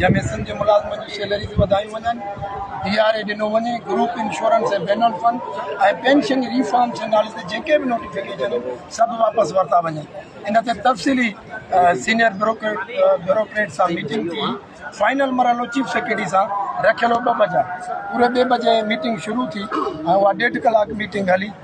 جنهن ۾ سنڌ جي ملازمن جي سيلريز وڌايون وڃن، ڊي آر اي ڏنو وڃي، گروپ انشورنس ۽ بين الفن ۽ پينشن ريفارمز جي نالي تي جيڪي به نوٽيفڪيشن آهن سڀ واپس ورتا وڃن. ان تي تفصيلي سينيئر بيوروڪريٽس سان ميٽنگ ٿي، فائنل مرحلو چيف سيڪريٽري سان رکيل هو ٻه بجا، پوري ٻي بجي ميٽنگ شروع ٿي ۽ اها ڏيڍ ڪلاڪ ميٽنگ هلي.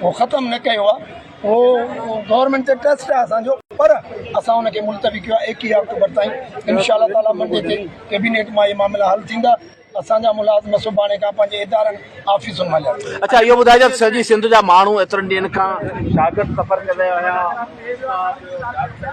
اهو ختم نه ڪيو آهي اهو گورنمينٽ تي ٽرسٽ آهي اسان جو پر اسان ان کي ملتوي ڪيو آهي ايڪيهه آڪٽوبر تائين انشاء الله تعالٰي منڊي تي ڪيبينيٽ مان اهي معاملا حل ٿيندا اسان جا ملازم سڀاڻي کان پنهنجي ادارن آفيسن مان لهندا. اچا اهو ٻڌاء ته سڄي سنڌ جا ماڻهو ايترن ڏينهن کان شاگرد سفر ڪري رهيا هيا استاد ڊاڪٽر